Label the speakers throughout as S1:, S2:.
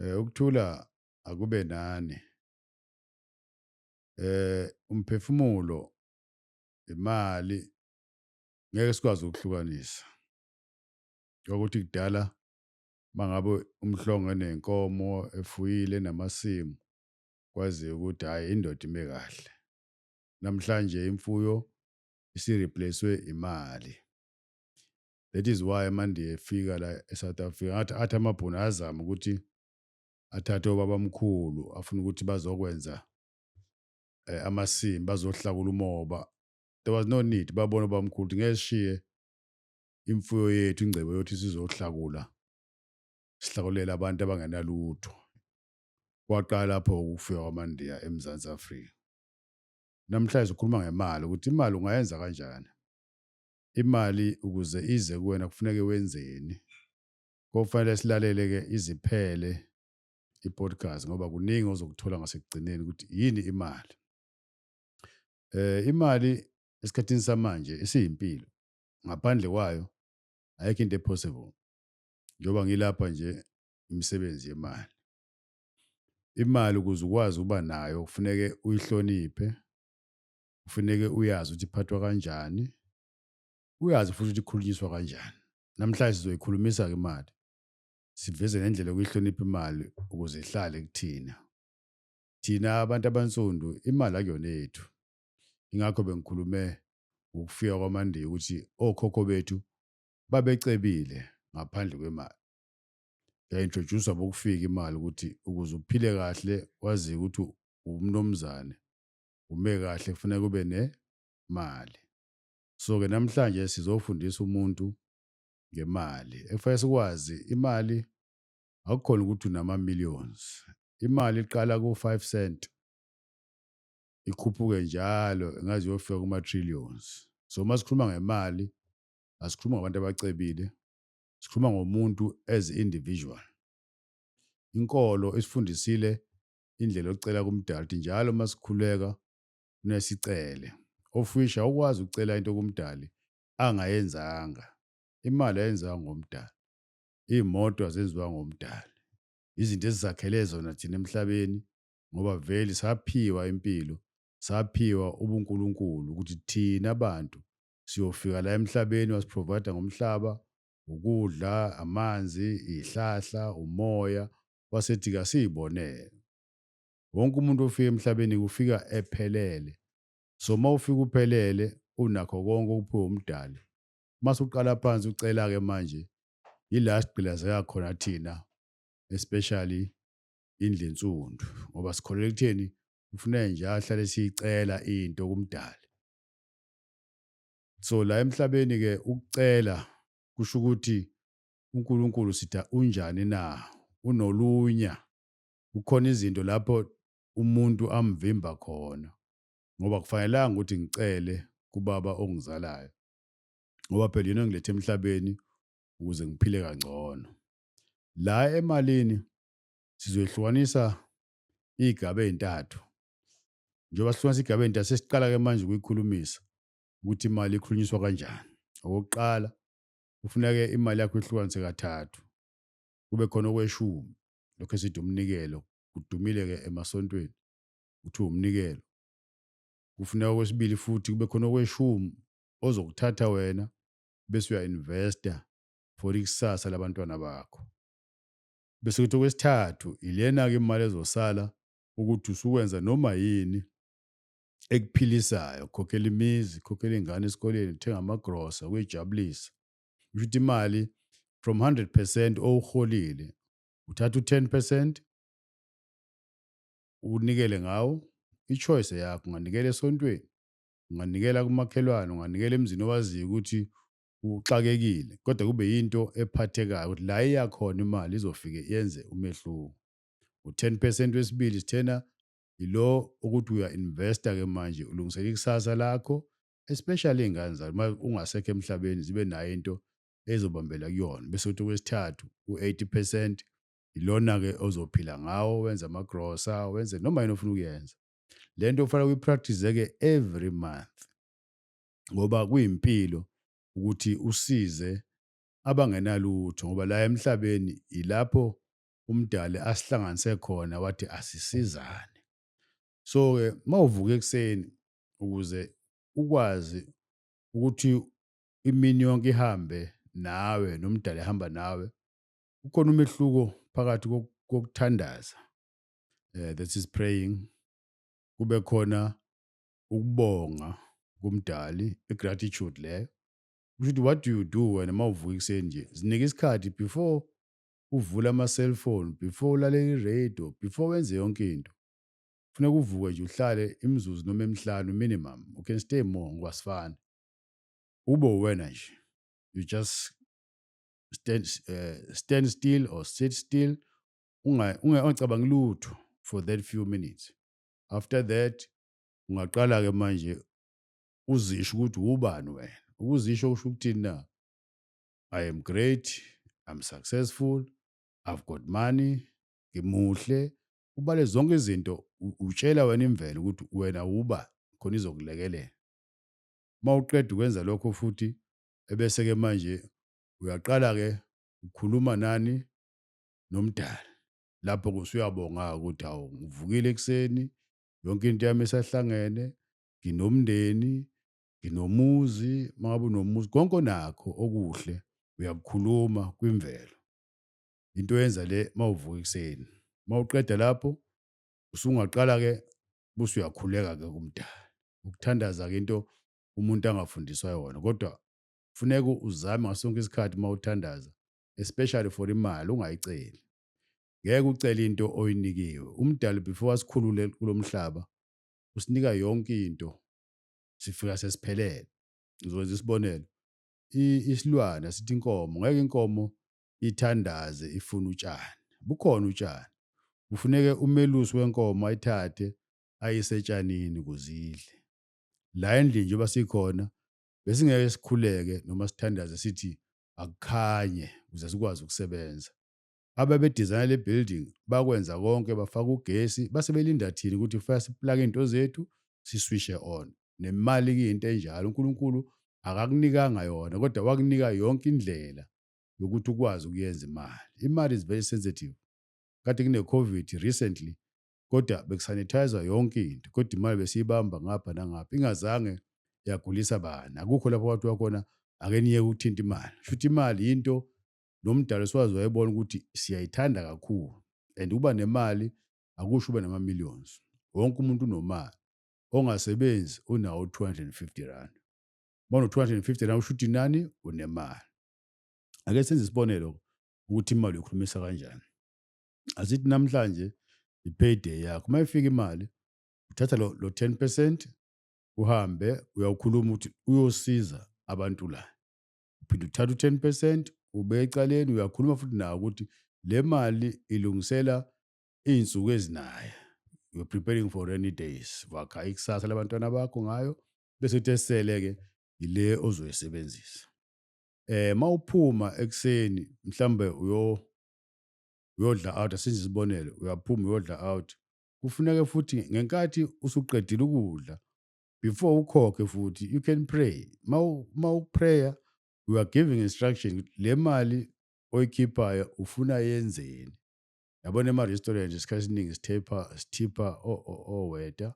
S1: Eh ukuthula akube nani. Eh umphefumulo imali ngeke sikwazi ukuhlukanisa. Ukuthi kudala mangabe umhlongo nenkomo efuyile namasimu kwazi ukuthi hayi indoda ime kahle. Namhlanje imfuyo isi-replace-we imali. That is why amaNdiya efika la eSouth Africa ngathi athi amaBhunu ayazama ukuthi athathe obabamkhulu afuna ukuthi bazokwenza eh, amasimu bazohlakula umoba. There was no need babona obabamkhulu ukuthi ngeke sishiye imfuyo yethu ingcebo yothi sizohlakula sihlakulela abantu abangenalutho. Kwaqala lapho ukufika kwamaNdiya eMzansi Afrika. namhlanje sikhuluma ngemali ukuthi imali ungayenza kanjani imali ukuze ize kuwena kufuneke wenzeni kofanele silalele ke iziphele i-podcast ngoba kuningi ozokuthola ngasekugcineni ukuthi yini imali eh imali esikhathini samanje isiyimpilo ngaphandle kwayo ayikho into epossible njengoba ngilapha nje imisebenzi yemali Imali ukuze ukwazi ukuba nayo kufuneke uyihloniphe, kufuneke uyazi ukuthi iphathwa kanjani, uyazi futhi ukuthi ikhulunyiswa kanjani. Namhlanje sizoyikhulumisa-ke imali, siveze nendlela yokuyihlonipha imali ukuze ihlale kuthina. Thina abantu abansundu imali akuyona yethu. Ingakho bengikhulume ngokufika kwamandiya ukuthi okhokho bethu babecebile ngaphandle kwemali. yaintroduce abokufika imali ukuthi ukuze uphile kahle wazi ukuthi umnomzane ume kahle kufanele kube nemali so ke namhlanje sizofundisa umuntu ngemali ekufanele sikwazi imali akukhona ukuthi unama millions imali iqala ku 5 cent ikhuphuke njalo engaze yofika kuma trillions so masikhuluma ngemali asikhuluma ngabantu abacebile sikhuluma ngomuntu as individual inkolo isifundisile indlela yokucela kumdala ukuthi njalo uma sikhuleka nesicele ofisha ukwazi ukucela into kumdali angayenzanga imali ayenzanga ngomdali iy'moto azenziwa ngomdali izinto ezizakhele zona thina emhlabeni ngoba vele saphiwa impilo saphiwa ubunkulunkulu ukuthi thina bantu siyofika la emhlabeni wasiprovider ngomhlaba ukudla amanzi ihlahla umoya wasethi kasiyibonele wonke umuntu ofika emhlabeni kufika ephelele so uma ufika uphelele unakho konke okuphiwe umdali mase uqala phansi ucela ke manje yila sigqilazeka khona thina especially indle nsundu ngoba sikholelwa ekutheni kufuneka nje ahlale siyicela into kumdali so la emhlabeni ke ukucela kusho ukuthi uNkulunkulu sitha unjani na unolunya kukhona izinto lapho umuntu amvimba khona ngoba kufanelanga ukuthi ngicele kubaba ongizalayo ngoba phela yena ngilethe emhlabeni ukuze ngiphile kangcono la emalini sizoyihlukanisa igaba ezintathu njengoba sifuna sigabeni da sesiqala ke manje ukuyikhulumisa ukuthi imali ikhulunyiswa kanjani okokuqala kufuneke imali yakho ihlukanise kathathu kube khona okweshumi lokho esithi umnikelo kudumile ke emasontweni uthi umnikelo kufuneka okwesibili futhi kube khona okweshumi ozokuthatha wena bese uya-investa for ikusasa labantwana bakho bese kuthi okwesithathu ilena-ke imali ezosala ukuthi usukwenza noma yini ekuphilisayo khokhela imizi khokhela iy'ngane esikoleni kuthenga amagrosa kuyijabulisa kusho ukuthi imali from 100 percent owuholile uthatha u-10 percent unikele ngawo i-choice yakho unganikela esontweni unganikela kumakhelwane unganikela emzini owaziyo ukuthi uxakekile kodwa kube yinto ephathekayo ukuthi la iyakhona imali izofike yenze umehluko u-10 percent wesibili sithena yilo ukuthi uya investor ke manje ulungisela ikusasa lakho especially ingane zakho uma ungasekho emhlabeni zibe nayo into ezobambela kuyona bese uthi kwesithathu u-80 percent ilona ke ozophila ngawo wenza ama grocer wenze noma yini ofuna ukuyenza lento ufanele uyipractice ke every month ngoba kuyimpilo ukuthi usize abangenalutho ngoba la emhlabeni ilapho umdali asihlanganise khona wathi asisizane so ke mawuvuka ekseni ukuze ukwazi ukuthi imini yonke ihambe nawe nomdali ehamba nawe ukhona umehluko phakathi kokuthandaza eh that is praying kube khona ukubonga kumdali igratitude leyo kusho ukuthi what do you do wena mawuvuka ekseni nje zinike isikhathi before uvule ama-cellphone, before ulalele i-radio, before wenze yonke into. Kufuneka uvuke nje uhlale imizuzu noma emihlanu minimum. You can stay more ngoba asifani. Ube uwena nje. You just stand, uh, stand still or sit still ungacabangi lutho for that few minutes. After that ungaqala-ke manje uzisho ukuthi wubani wena. Ukuzisho kusho ukuthini na? I am great, I'm successful, I've got money, ngimuhle. Ubale zonke izinto u- utshela wena imvelo ukuthi wena uba khona izokulekelela. Uma uqeda ukwenza lokho futhi ebese ke manje uyaqala ke ukhuluma nani nomdali. Lapho ke usuyabonga ukuthi hawu ngivukile ekuseni yonke into yami isahlangene, nginomndeni, nginomuzi uma ngabe unomuzi konke onakho okuhle uyakukhuluma kwimvelo into yenza le mawuvuka ekuseni mawuqeda lapho usungaqala ke buse uyakhuleka ke kumdala ukuthandaza ke into umuntu angafundiswa yona kodwa kufuneka uzame ngasonke isikhathi mawuthandaza especially for imali ungayiceli ngeke ucele into oyinikiwe umdali before asikhulule kulomhlaba usinika yonke into sifika sesiphelele ngizokwenza isibonelo isilwane asithi inkomo ngeke inkomo ithandaze ifuna utshani bukhona utshani kufuneke umelusi wenkomo ayithathe ayisetshanini kuzidle la endlini njengoba sikhona besingeke sikhuleke noma sithandaze sithi akukhanye ukuze sikwazi ukusebenza ababedizayina le building bakwenza konke bafaka ugesi base belinda thina ukuthi kufanele siplake into zethu siswishe on nemali kuyinto enjalo uNkulunkulu akakunikanga yona kodwa wakunika yonke indlela yokuthi ukwazi ukuyenza imali imali is very sensitive kade kune covid recently kodwa bekusanithayiza yonke into kodwa imali besiyibamba ngapha nangapha ingazange yagulisa bani akukho lapho wathi wakhona ake niye ukuthinta imali shuthi imali into nomdali siwazi wayebona ukuthi siyayithanda kakhulu and uba nemali akusho uba nama-millions wonke umuntu unomali ongasebenzi unawo 250 rand uma uno-250 rand usho ukuthi nani unemali ake senze isibonelo ukuthi imali uyokhulumisa kanjani asithi namhlanje i-payday yakho uma ifika imali uthatha lo, lo 10 percent uhambe uyawukhuluma ukuthi uyosiza abantu la uphinde uthatha u-10 percent ube ecaleni uyakhuluma futhi nawo ukuthi le mali ilungisela iy'nsuku ezinaye you're preparing for rainy days wakha ikusasa labantwana bakho ngayo bese uthi esele-ke yile ozoyisebenzisa eh mawuphuma ekseni mhlambe uyo uyodla out asenze isibonelo uyaphuma uyodla out kufuneka futhi ngenkathi usuqedile ukudla before ukhokhe futhi you can pray uma uprayer you are giving instruction le mali oyikhiphayo ufuna yenzeni yabona ema-restaurant isikhathi esiningi sithepha sithipha oweta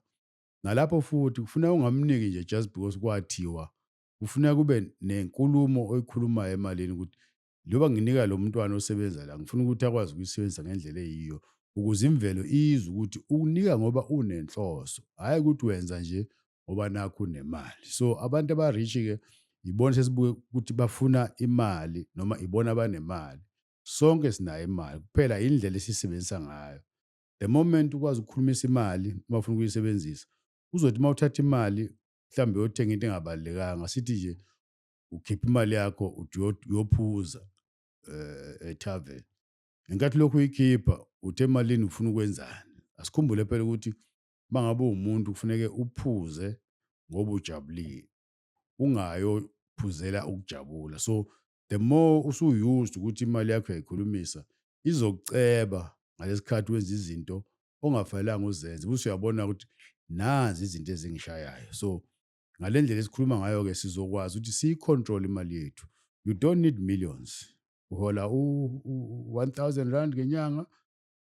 S1: nalapho futhi kufuna ungamniki nje just because kwathiwa kufuna kube nenkulumo oyikhulumayo emalini ukuthi Njengoba nginika lo mntwana osebenza la, ngifuna ukuthi akwazi ukuyisebenzisa ngendlela eyiyo ukuze imvelo izwe ukuthi ukunika ngoba unenhloso, hhayi ukuthi wenza nje ngoba nakho unemali. So abantu abarishi-ke yibona sesibuke ukuthi bafuna imali noma ibona abanemali. Sonke sinayo imali, kuphela indlela esiyisebenzisa ngayo. The moment ukwazi ukukhulumisa imali uma ufuna ukuyisebenzisa, uzothi uma uthatha imali mhlawumbe uyothenga into engabalulekanga, sithi nje ukhipha imali yakho uthi uyo- uyophuza eh etavern ngenkathi lokhu uyikhipha uthe emalini ufuna ukwenzani asikhumbule phela ukuthi mangabe umuntu kufuneke uphuze ngoba ujabulile ungayo phuzela ukujabula so the more usuyused ukuthi imali yakho yayikhulumisa izokuceba ngalesikhathi wenza izinto ongafanelanga uzenze bese uyabona ukuthi nazi izinto ezingishayayo so ngale ndlela esikhuluma ngayo-ke sizokwazi ukuthi siyicontrol imali yethu you don't need millions uhola u-one thousand rand ngenyanga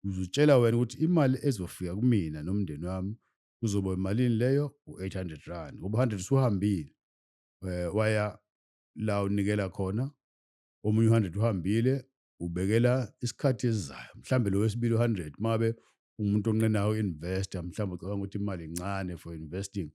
S1: uzutshela wena ukuthi imali ezofika kumina nomndeni wami kuzoba imalini leyo u-eight hundred rand ngoba u-hundred usuhambile um waya la unikela khona omunye u-hundred uhambile ubekela isikhathi esizayo mhlawumbe lo wesibili u-100 mabe umuntu onqenayo investor mhlawumbe ucabanga ukuthi imali incane for investing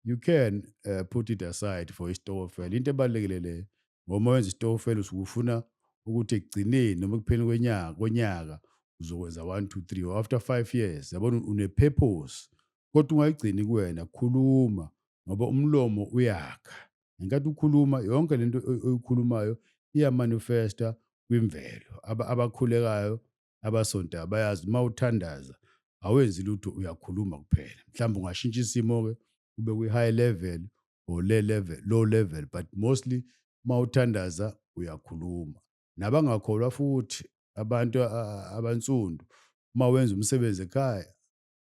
S1: you can uh, put it aside for istokofela into ebalulekile le ngoma wenza istokofela usukufuna ukuthi ekugcineni noma ekupheni kwenyaka konyaka uzokwenza 1 2 3 or after 5 years yabona une-purpose kodwa ungayigcini kuwena khuluma ngoba umlomo uyakha ngenkathi ukhuluma yonke lento oyikhulumayo iyamanifesta kwimvelo abakhulekayo abasontayo bayazi uma uthandaza awenzi lutho uyakhuluma kuphela mhlawumbe ungashintsha isimo-ke ube kwi-high level or le level low level but mostly uma uthandaza uyakhuluma nabangakholwa futhi abantu abansundu uma wenza umsebenzi ekhaya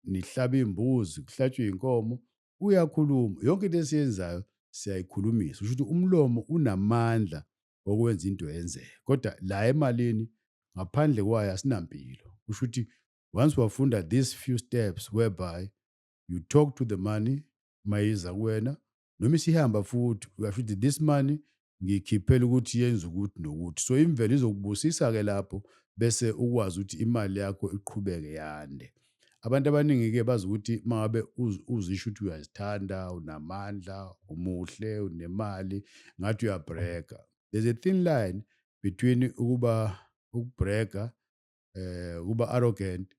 S1: nihlaba imbuzi kuhlatshwe inkomo uyakhuluma yonke into esiyenzayo siyayikhulumisa usho ukuthi umlomo unamandla okwenza into yenzeke kodwa la emalini ngaphandle kwayo asinampilo usho ukuthi once wafunda these few steps whereby you talk to the money mayiza kuwena noma isihamba futhi uyasho ukuthi this money ngikhiphela ukuthi yenze ukuthi nokuthi so imvelo izokubusisa-ke lapho bese ukwazi ukuthi imali yakho iqhubeke yande abantu abaningi-ke bazi ukuthi mangabe uzisho ukuthi uyazithanda unamandla umuhle unemali ngathi uyabhreka there's a thin line between ukuba ukubhreka eh kuba arrogant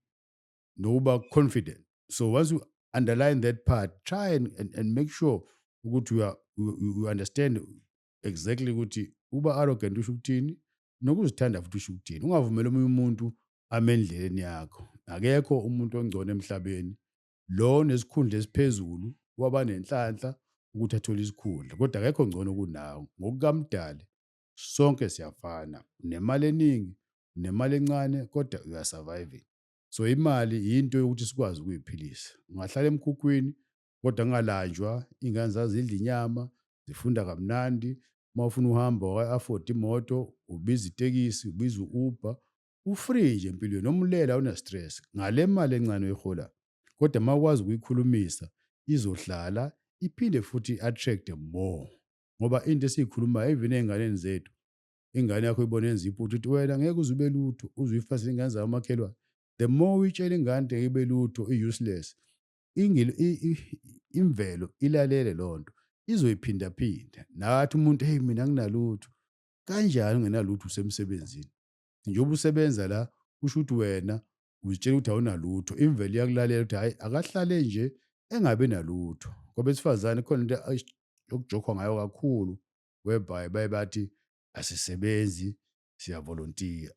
S1: nokuba confident so once you underline that part try and, and, and make sure ukuthi you, are, you, you understand exactly ukuthi uba arrogant usho ukuthini nokuzithanda futhi usho ukuthini ungavumeli omunye umuntu ame endleleni yakho akekho umuntu ongcono emhlabeni lo nesikhundla esiphezulu waba nenhlanhla ukuthi athole isikhundla kodwa akekho ngcono kunawe ngokukamdali sonke siyafana nemali eningi nemali encane kodwa uyasurviving so imali yinto yokuthi sikwazi ukuyiphilisa ungahlala emkhukhwini kodwa kungalanjwa iy'ngane zazidla inyama zifunda kamnandi uma ufuna uhamba wa-afford imoto ubiza itekisi ubiza u-uber ufree nje empilweni noma ulele awunastress ngale mali encane oyihola kodwa uma ukwazi ukuyikhulumisa izohlala iphinde futhi i-attract more ngoba into esiyikhulumayo even ey'nganeni zethu ingane yakho ibona yenza iphutha uthi wena ngeke uze ube lutho uzuyifasa ingane zayo umakhelwane the more uyitshela ingane ngeke ibe lutho i-useless imvelo ilalele loo nto izoyiphindaphinda nathi umuntu heyi mina nginalutho kanjani ungenalutho usemsebenzini njengoba usebenza la kusho ukuthi wena uzitshela ukuthi awunalutho imvelo iyakulalela ukuthi hhayi akahlale nje engabi nalutho kwabesifazane khona into okujokhwa ngayo kakhulu whereby baye bathi asisebenzi siyavolontiya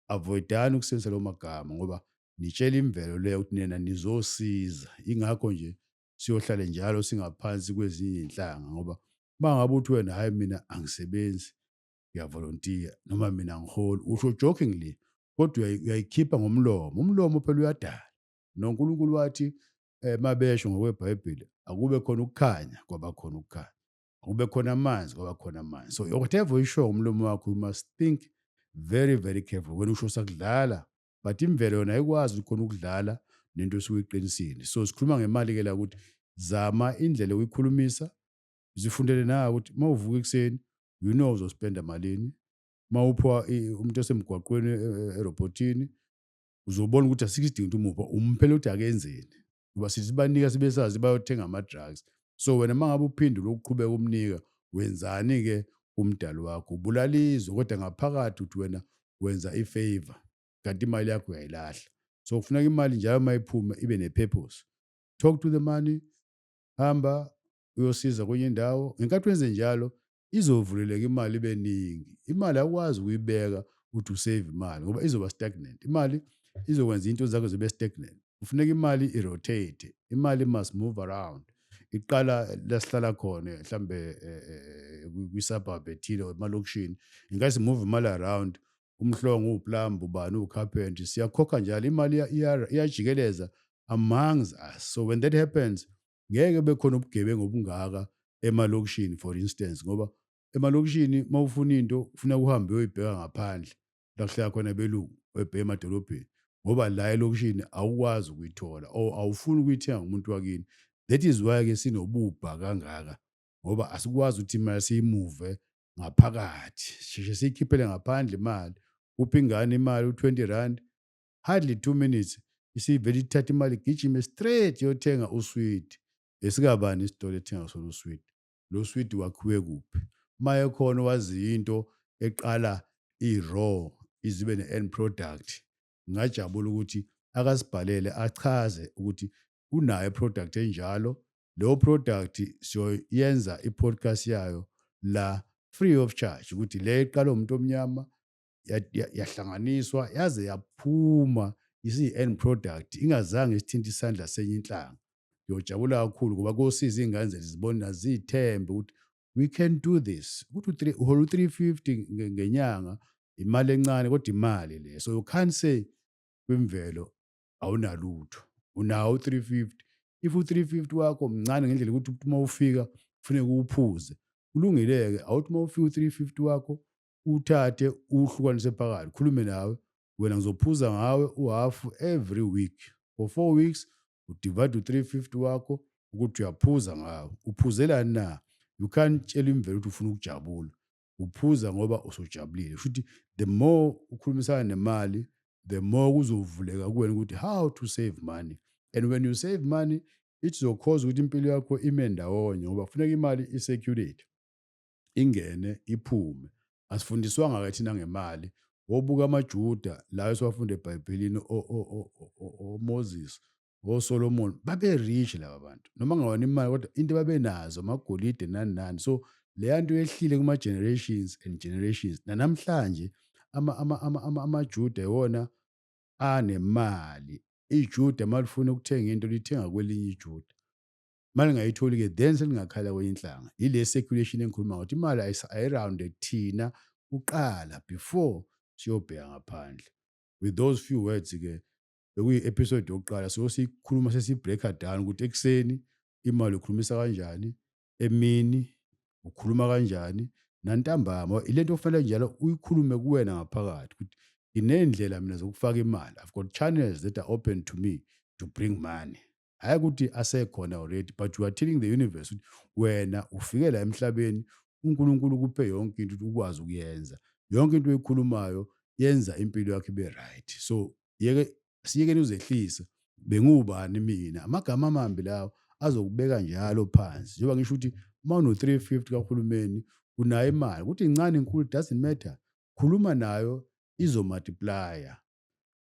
S1: avoidani ukusebenzisa lawo magama ngoba nitshela imvelo le ukuthi nina nizosiza ingakho nje siyohlale njalo singaphansi kwezinye inhlanga ngoba mangabe uthi wena hayi mina angisebenzi ngiyavolontiya noma mina ngiholi usho jokingly kodwa uyayikhipha ngomlomo umlomo phela uyadala noNkulunkulu wathi eh, mabesho ngokwebhayibheli akube khona ukukhanya kwabakhona ukukhanya kube khona amanzi kwaba khona amanzi so whatever uyisho umlomo wakho you must think very very careful wena usho sakudlala but imvelo yona ayikwazi ukhona ukudlala nento esuyiqinisile so sikhuluma ngemali ke la ukuthi zama indlela uyikhulumisa zifundele na ukuthi mawuvuka ekseni you know uzospenda malini mawuphiwa umuntu osemgwaqweni e, e, erobotini uzobona ukuthi asikho isidingo ukuthi umupha umphela ukuthi akenzeni ngoba sizibanika sibesazi bayothenga ama-drugs so wena uma ngabe uphindula ukuqhubeka umnika wenzani-ke umdali wakho ubulala izwe kodwa ngaphakathi ukuthi wena wenza i-favor kanti imali yakho uyayilahla so kufuneka imali njalo uma iphuma ibe ne-purpose talk to the money hamba uyosiza kwenye indawo ngenkathi wenze njalo izovuleleka imali ibe ningi imali akwazi ukuyibeka ukuthi usave imali ngoba izoba stagnant imali izokwenza into zakho zibe stagnant kufuneka imali irotate imali must move around iqala lasihlala khona mhlambe eh, eh, kwi-suburb ethile or emalokishini ingathi move imali around umhlongo uwuplumb ubani uwucarpentry siyakhokha njalo imali iyajikeleza amongst us so when that happens ngeke bekhona ubugebengu obungaka emalokishini for instance ngoba emalokishini uma ufuna into ufuna kuhambe uyoyibheka ngaphandle la kuhlala khona belungu oyibheke emadolobheni ngoba la elokishini awukwazi ukuyithola or awufuni ukuyithenga umuntu wakini that is why ke sinobubha kangaka ngoba asikwazi ukuthi imali siyimuve ngaphakathi sheshe siyikhiphele ngaphandle imali uphi ingane imali u-20 rand hardly two minutes isivele ithatha imali igijime straight yothenga uswidi esikabani isitolo ethenga sona uswidi lo swidi wakhiwe kuphi uma ekhona wazi into eqala i-raw izibe ne-end product ngingajabula ukuthi akasibhalele achaze ukuthi unayo iproduct enjalo leyo product siyoyenza i-podcast yayo la free of charge ukuthi le iqala umuntu omnyama yahlanganiswa yaze yaphuma isiyi-end product ingazange isithinte isandla senye inhlanga ngiyojabula kakhulu ngoba kosiza iy'ngane zethu zibona ziyithembe ukuthi we can do this ukuthi uhola u-three fifty ngenyanga imali encane kodwa imali le so you can't say kwimvelo awunalutho unawo u-three fifty if u-three fifty wakho mncane ngendlela yokuthi uma ufika kufuneka uwuphuze kulungile-ke awuthi uma ufika u-three fifty wakho uthathe uhlukanise phakathi khulume nawe wena ngizophuza ngawe uhafu every week for four weeks udivide u-three fifty wakho ukuthi uyaphuza ngawo uphuzelani na you can't tshela imvelo ukuthi ufuna ukujabula uphuza ngoba usujabulile shuthi the more ukhulumisana nemali the more kuzovuleka kuwena ukuthi how to save money and when you save money ithi zokhoza ukuthi impilo yakho ime ndawonye ngoba kufuneka imali i-circulate ingene iphume asifundiswanga ke thina ngemali wobuka amaJuda la esiwafunda eBhayibhelini oMoses oSolomon babe rich laba bantu noma ngawona imali kodwa into babenazo amagolide nani nani so leya nto yehlile kuma generations and generations nanamhlanje ama ama ama ama amaJuda iwona anemali iJuda malifuna ukuthenga into lithenga kwelinye iJuda uma lingayitholi-ke then selingakhala kwenye inhlanga yile circulation engikhuluma ngokuthi imali ayirounde kuthina kuqala before siyobheka ngaphandle with those few words-ke bekuyi-episode yokuqala so siyikhuluma sesibreaker down ukuthi ekuseni imali ukhulumisa kanjani emini ukhuluma kanjani nantambama ile nto okufanele njalo uyikhulume kuwena ngaphakathi ukuthi nginey'ndlela mina zokufaka imali i've got channels that are open to me to bring money hhayi ukuthi asekhona already but you are telling the universe ukuthi wena ufike la emhlabeni unkulunkulu kuphe yonke into ukuthi ukwazi ukuyenza yonke into oyikhulumayo yenza impilo yakho ibe right so yeke siyekeni uzehlisa bengiwubani mina amagama amambi lawo azokubeka njalo phansi njengoba ngisho ukuthi uma uno-350 kahulumeni unayo imali ukuthi incane inkulu doesn't matter khuluma nayo izomultiplier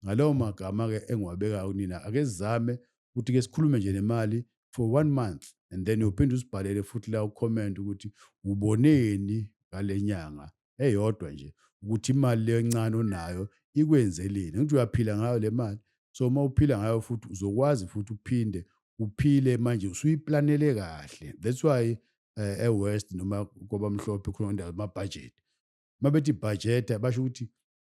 S1: ngalawo magama-ke engiwabekayo kunina ake sizame ukuthi ke sikhulume nje nemali for one month and then uphinde usibhalele futhi la ucomment ukuthi uboneni ngale nyanga eyodwa nje ukuthi imali leyo encane onayo ikwenzeleni ngithi uyaphila ngayo le mali so uma uphila ngayo futhi uzokwazi futhi uphinde uphile manje usuyiplanele kahle that's why eh, e-west noma kwabamhlophe khona indawo amabhajethi uma bethi bhajeta basho ukuthi